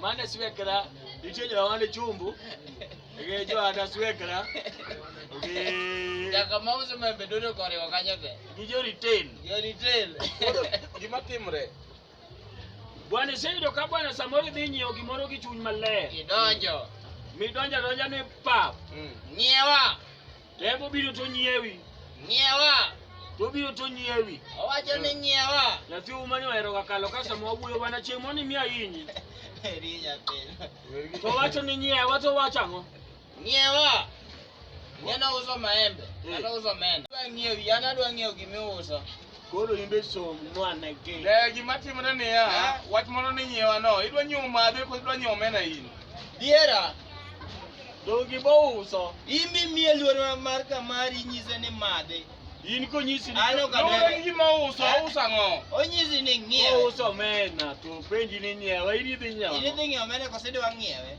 mane swekra nitie jawande chumbu gi joanda swekra gi Jaka mauso membe dodo koriwo kanyo te. gi joritain Jo retail. Koro gima timre bwana iseyudo ka bwana samoro idhi nyiewo gimoro gi chuny maler Idonjo. midonjo adonja ni pap Ng'iewa. Tembo biro to nyiewi. Nyiewa. To biro to nyiewi. Owacho ni nyiewa. Nyathi uma ni ohero kakalo ka sama wawuoyo wana chieng' moni miya yinyi. Eri nyathi. To wacho ni nyiewa to wacho ang'o? Nyiewa. Neno uso maembe. Neno uso mena. Adwa nyiewi, an adwa nyiewo gimiuso. Koro in be som nwane gi. Eh, gima timore niya, ah. wach moro ni nyiewa no, idwa nyiewo madhe koso idwa nyiewo omena in? Diera. Dogi bo uso. In be miye luor mar kamari nyise ni madhe. In konyisi ni ano ka dere. Ni ma uso, eh? uso ang'o? Onyisi ni ng'iewe. Uso omena to penji ni nyiewe, in idhi nyiewe. In idhi nyiewe omena koso idwa ng'iewe.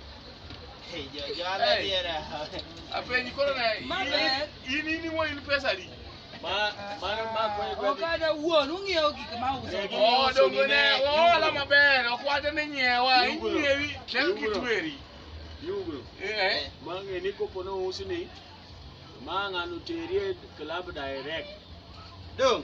Apenyi koro na in in iwo in pesa di. Ma mano ma kwe kwe. Okada wuon ung'iewo gik ma uso. Oh dongo ne ola maber okwate ni nyiewa inyiewi kel kitweri. Yugo. Eh. Mange ni kopo no usni. Ma ng'ano terie club direct. Dong.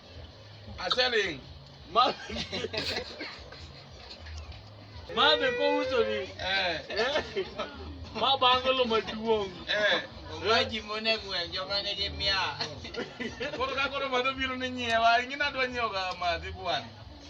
I said it. Ma- Ma be ko uso ni. Eh. Eh. Ma bangolo maduong'. Eh. Waji mone gwen joma nigi mia. Koro ka koro madho biro ni nyiewa, ing'e nadwa nyiewo ga madhi bwana.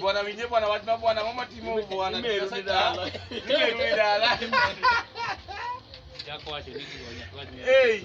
Bwana winje bwana wach ma bwana mama timo bwana. Nimerudi dala. Nimerudi dala. Chako wacho nini bwana. Hey.